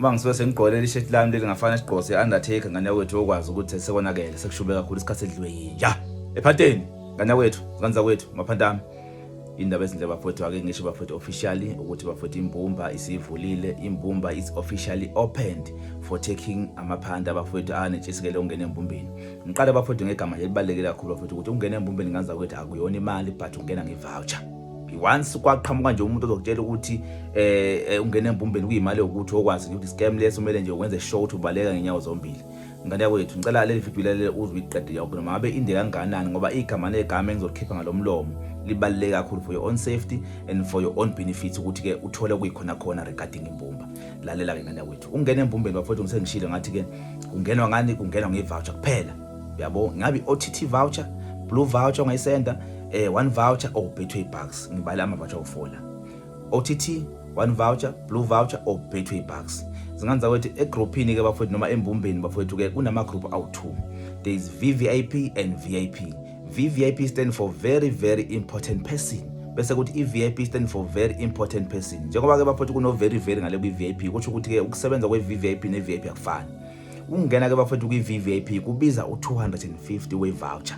uma ngisuke sengigqolela ishethi lami leli ngafana sigqose i-undertaker ngane yakwethu yokwazi ukuthi sekonakele sekushube kakhulu isikhathi edliwe yinja ephateni ngane yakwethu zingane zakwethu maphanti ami indaba ezinhle bafowethu ake ngisho bafowethu officially ukuthi bafowethu imbumba isivulile imbumba is officially opened for taking amaphanda abafowethu anetshisekele ungena embumbeni ngiqala bafowethu ngegama elibaluleke kakhulu bafowethu ukuthi ungena embumbeni nganza kwethu akuyona imali but ungena nge-voucher once kwaqhamuka nje umuntu ozokutshela ukuthi eh, eh ungena embumbeni kuyimali yokuthi okwazi ukuthi scam leso kumele nje wenze show ukuthi ubaleka ngenyawo zombili ngane yakho yethu ngicela leli video lele uzwe iqede yakho noma ngabe inde kanganani ngoba igama negama engizokhipha ngalomlomo libaluleke kakhulu for your own safety and for your own benefits ukuthi ke uthole kuyikhona khona regarding imbumba lalela ke ngane yakwethu ungena embumbeni bafowethu ngisengishilo ngathi ke kungenwa ngani kungenwa ngevoucher kuphela yabo ngabe OTT voucher blue voucher ongayisenda eh one voucher or betway bucks ngibale ama voucher ofola OTT one voucher blue voucher or betway bucks zinganza ukuthi egroupini ke bafowethu noma embumbeni bafowethu ke kunama group awu2 there is VVIP and VIP VVIP stand for very very important person bese kuthi i-VIP stand for very important person njengoba ke bafowethu kuno very very ngale kwi-VIP kusho ukuthi ke ukusebenza kwe-VIP ne-VIP akufani Ukungena ke bafethu kwi-VVIP kubiza u-250 we-voucher.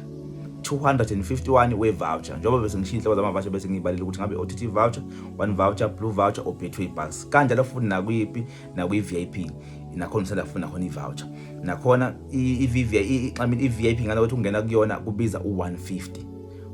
251 we-voucher njengoba bese ngishiya inhloko zama-voucher bese ngiyibalile ukuthi ngabe OTT voucher, one voucher, blue voucher or Betway Bucks. Kanjalo futhi nakwipi nakwi-VIP nakhona usanda kufuna khona i-voucher. Nakhona i-VVIP I mean i-VIP ngale ukuthi ungena kuyona kubiza u-150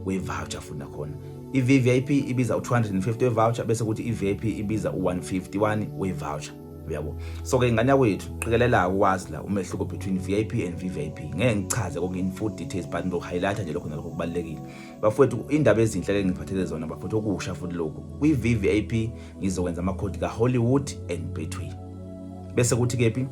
we-voucher futhi nakhona. I-VVIP ibiza u-250 we-voucher bese kuthi i-VIP ibiza u-151 we-voucher. uyabo so ke ingane yakwethu qikelela ukwazi la umehluko between VIP and VVIP ngeke ngichaze konke in full details but ngizok highlight nje lokho nalokho kubalekile bafowethu indaba ezinhle ke ngiphathele zona bafowethu okusha futhi lokho kwi VVIP ngizokwenza ama code ka Hollywood and Betway bese kuthi kephi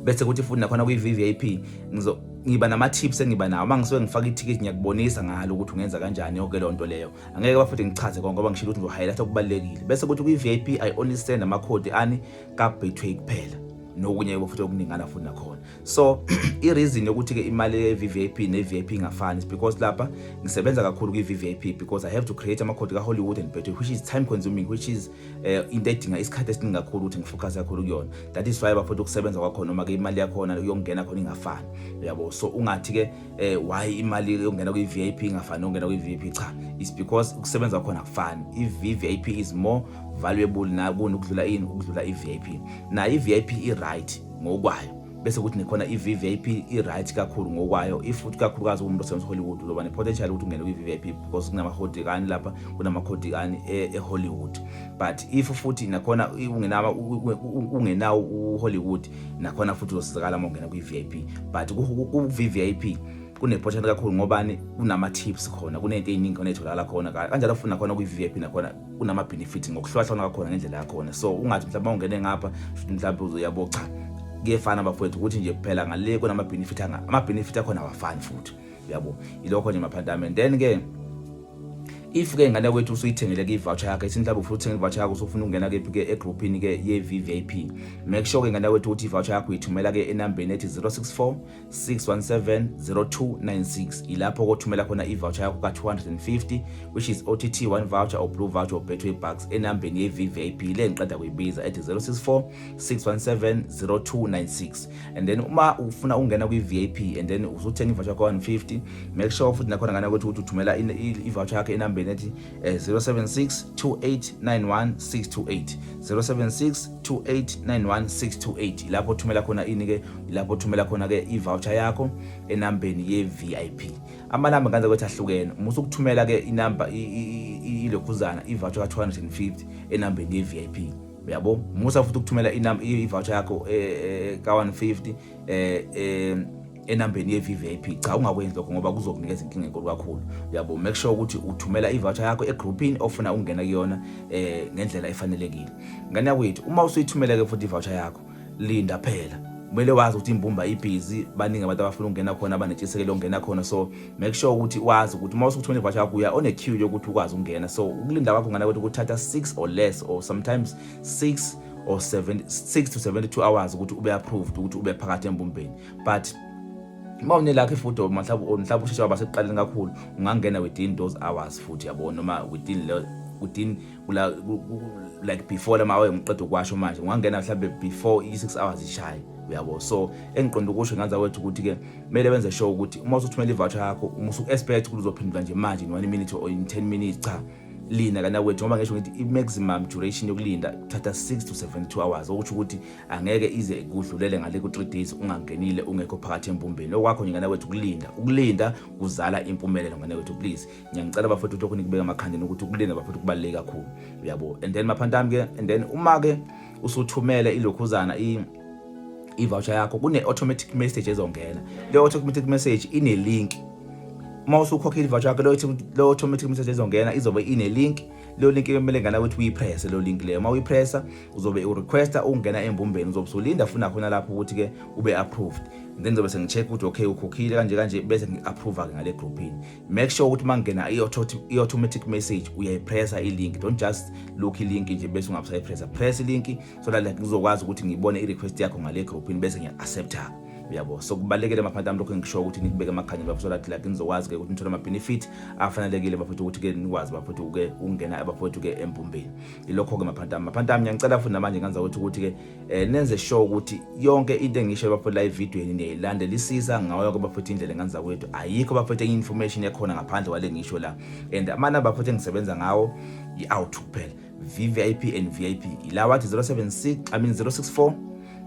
bese kuthi futhi nakhona kwi VVIP ngizo ngiba nama tips engiba nawo mangisuke ngifaka i-ticket ngiyakubonisa ngalo ukuthi ungenza kanjani yonke lonto leyo angeke bafuthi ngichaze konke ngoba ngishilo ukuthi ngizohighlight okubalulekile bese kuthi kwi-vip i only send amakhodi ani ka-betway kuphela nokunye futhi okuningana futhi nakhona so i-reason yokuthi-ke imali ye-vvip ne-vip ingafani is because lapha ngisebenza kakhulu kwi-vvip because i have to create amakhodi ka-hollywood and betway which is time consuming which is eh, into edinga isikhathi esiningi kakhulu ukuthi ngifocuse kakhulu kuyona that is why bafuthi ukusebenza kwakhona noma-ke imali yakhona yokungena khona ingafani yabo so ungathi-ke eh why imali yokungena kwi VIP ingafani nokungena kwi VIP cha it's because ukusebenza khona kufani i VIP is more valuable na kunokudlula ini ukudlula i VIP na i VIP i right ngokwayo bese kuthi nekhona i VIP i right kakhulu ngokwayo if futhi kakhulukazi umuntu osebenza Hollywood uzoba ne potential ukuthi ungene kwi VIP because kunama khodigani lapha kunama khodigani e, e Hollywood but if futhi nakhona ungenawo ungenawo u Hollywood nakhona futhi uzosizakala uma ungena kwi-vip but ku-vvip kunephothana kakhulu ngobani kunama-tips khona kunento ey'ningi khona ey'tholakala khona kanjalo futhi nakhona kwi-vvip nakhona kunama-benefit ngokuhlukahlukana kwakhona ngendlela yakhona so ungathi mhlawumbe uma ungene ngapha shuthi mhlawumbe uzoyabo cha kuyefana bafowethu ukuthi nje kuphela ngale kunama-benefit ama-benefit akhona awafani futhi uyabo ilokho nje maphantame then ke if ke ngane kwethu usuyithengele ke ivoucher yakhe ithi mhlawumbe ufuna uthenga ivoucher yakho usufuna ukungena ke ke egroupini ke ye VVIP make sure ke ngane kwethu ukuthi ivoucher yakho uyithumela ke enambeni ethi 064 617 0296 ilapho kothumela khona ivoucher yakho ka 250 which is OTT one voucher or blue voucher or Betway bucks enambeni ye VVIP le ngiqeda kuyibiza ethi 064 617 0296 and then uma ufuna ukungena kwi-vip and then uzothenga ivoucher kwa-150 make sure futhi nakhona ngana ukuthi ukuthi uthumela ivoucher yakho enambeni ethi 076 2891 628 076 2891 628 lapho thumela khona ini ke lapho thumela khona ke ivoucher yakho enambeni ye-vip amanamba nganza ukuthi ahlukene uma usukuthumela ke inamba ilokhuzana ivoucher ka-250 enambeni ye-vip uyabo musa futhi ukuthumela i-voucher yakho eh, eh, ka-150 um eh, enambeni ye-vvip cha ungakwenzi lokho ngoba kuzokunikeza inkinga enkulu kakhulu uyabo make sure ukuthi uthumela i-voucher yakho egrouphini ofuna ukungena kuyona um ngendlela efanelekile ngane yakwethu uma usuyithumela-ke futhi i-voucher yakho linda phela kumele wazi ukuthi imbumba ibhizi baningi abantu abafuna ukungena khona abanetshisekelo ongena khona so make sure ukuthi wazi ukuthi uma usukuthi unevasha yakho uya one queue yokuthi ukwazi ukungena so ukulinda kwakho ngana ukuthi kuthatha 6 or less or sometimes 6 or 7 6 to 72 hours ukuthi ube approved ukuthi ube phakathi embumbeni but uma unelakho ifuthi or mhlawumbe mhlawumbe usheshe waba sekuqaleni kakhulu ungangena within those hours futhi yabo noma within within kula like before lama hour ngiqeda ukwasho manje ngwangena mhlambe before i6 hours ishaye uyabo so engiqonda ukusho nganza wethu ukuthi ke kumele benze show ukuthi uma usuthumela ivoucher yakho uma usu expect ukuthi uzophendula nje manje in 1 minute or in 10 minutes cha linda kana kwethu ngoba ngisho ngithi i-maximum duration yokulinda kuthatha 6 to 72 hours okusho ukuthi angeke ize kudlulele ngale ku-3 days ungangenile ungekho phakathi embumbeni okwakho nje ngana kwethu ukulinda ukulinda kuzala impumelelo ngana kwethu please ngiyangicela bafowethu lokhu nikubeka emakhandeni ukuthi ukulina bafowethu kubaluleke kakhulu uyabo and then maphanti ami ke and then uma ke usuthumele ilokhuzana i i-voucher yakho kune-automatic message ezongena leyo automatic message ine-link uma usukhokha i-voucher yakho leyo automatic message ezongena izobe ine-link leyo link kumele ngana ukuthi uyipresse leyo link leyo uma uyipressa uzobe urequesta ukungena embumbeni uzobe usulinda funa khona lapho ukuthi-ke ube-approved then ngizobe sengi-check ukuthi okay ukhokhile kanje kanje bese ngi-approva-ke ngale groupini make sure ukuthi mangena i-automatic message uyayipressa ilink don't just look ilink nje bese ungabusayipressa press ilink so that like ngizokwazi ukuthi ngibone i-request yakho ngale groupini bese ngiya-accepta uyabo so kubalulekile maphanti ami lokho engisho ukuthi nikubeke emakhanya bafo so that like nizokwazi-ke ukuthi nithole ama-benefit afanelekile bafowethu ukuthi-ke nikwazi bafowethu uke ukungena abafowethu-ke empumbeni ilokho-ke maphanti ami maphanti ami ngiyangicela futhi namanje nganza ukuthi ukuthi-ke eh nenze sure ukuthi yonke into engisho bafethu la evidweni niyayilandelisisa ngawo yonke bafethu indlela engane zakwethu ayikho bafethu enye information ekhona ngaphandle kwale ngisho la and amana bafethu engisebenza ngawo i-out kuphela VVIP and VIP ila wathi 076 I mean 064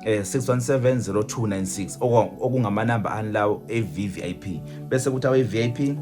eh 6170296 okungamanamba ani lawo eVVIP bese kuthi awe VIP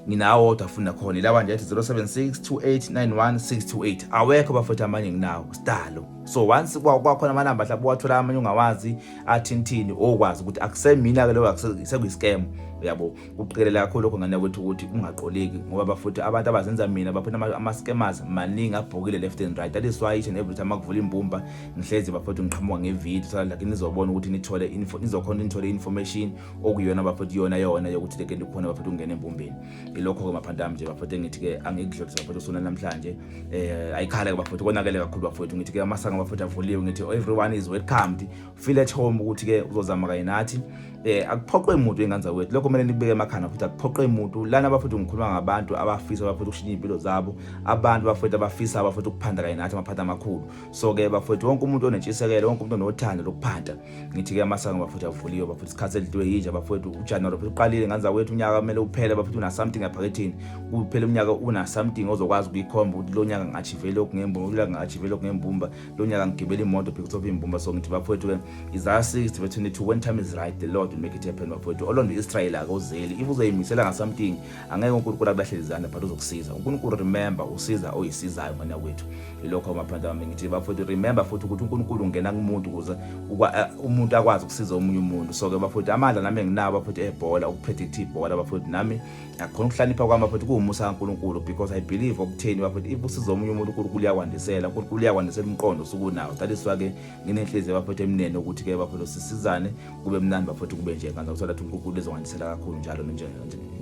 nginawo wodwa fundi nakhona ilawa nje athi 0762891628 awekho bafethu amanye nginawo sidalo so once kwakhona amanamba mhlawumbe wathola amanye ungawazi athintini okwazi ukuthi akusemina ke lokho sekuyi-scam uyabo kuqikelela kakhulu lokho ngane kwethu ukuthi ungaqoleki ngoba bafuthi abantu abazenza mina baphina ama-scammers maningi abhokile left and right that is why each and every time akuvula imbumba ngihlezi bafuthi ngiqhamuka ngevideo so like nizobona ukuthi nithole nizokhona nithole i-information okuyona bafethu iyona yona yokuthi leke ndikhona bafethu ukungena embumbeni ilokho-ke bafethu ami nje bafethu engithi-ke angikudlulisa bafethu usona namhlanje um eh, ayikhala-ke bafethu konakele kakhulu bafethu ngithi-ke amasanga bafethu avuliwe ngithi everyone is welcomed feel at home ukuthi-ke uzozama kanye nathi eh akuphoqwe umuntu enganza wethu lokho kumele nikubeke emakhanda futhi akuphoqwe umuntu lana bafethu ngikhuluma ngabantu abafisa bafethu ukushintsha impilo zabo abantu bafethu abafisa bafethu ukuphanda kanye nathi amaphanda amakhulu so ke bafethu wonke umuntu onentshisekelo wonke umuntu onothando lokuphanda ngithi-ke amasango bafowethu avuliwe bafowethu isikhathi elidliwe yinje bafowethu ujanuwari futhi uqalile nganza wethu unyaka kumele uphele bafowethu una-something aphakethini kuphela umnyaka una-something ozokwazi ukuyikhomba ukuthi lo nyaka ngachive lokhu ngembumba unyaka ngachive lokhu ngembumba lo nyaka ngigibela imoto because of imbumba so ngithi bafowethu-ke izaya 60 bethu nithi when time is right the lord will make it happen bafowethu olondo israyeli akozeli if uzoyimisela ngasamting angeke uNkulunkulu akulahlele izandla but uzokusiza uNkulunkulu remember usiza oyisizayo ngane kwethu ilokho amaphanda wami ngithi bafowethu remember futhi ukuthi uNkulunkulu ungena kumuntu ukuze eh, umuntu akwazi ukusiza omunye umuntu so ke bafowethu amandla nami enginawo bafowethu ebhola ukupredict ibhola bafowethu nami akukhona ukuhlanipha kwami bafowethu kuwumusa kaNkulunkulu because i believe okutheni bafowethu if usiza omunye umuntu uNkulunkulu uyakwandisela uNkulunkulu uyakwandisela umqondo usukunawo that is why ke nginenhliziyo bafowethu emnene ukuthi ke bafowethu sisizane kube mnandi bafowethu kube nje kanti ukuthola ukuthi uNkulunkulu ezongandisela kakhulu njalo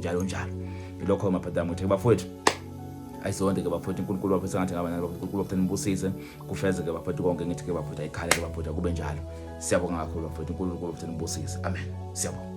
njalo njalo ilokho mabhadi ami ukuthi bafowethu ayisonde ke bafowethu uNkulunkulu bafowethu sengathi ngaba nalo uNkulunkulu bafowethu nibusise kufezeke bafowethu konke ngithi ke bafowethu ayikhale ke bafowethu kube njalo siyabonga kakhulu bafowethu uNkulunkulu bafowethu nibusise amen siyabonga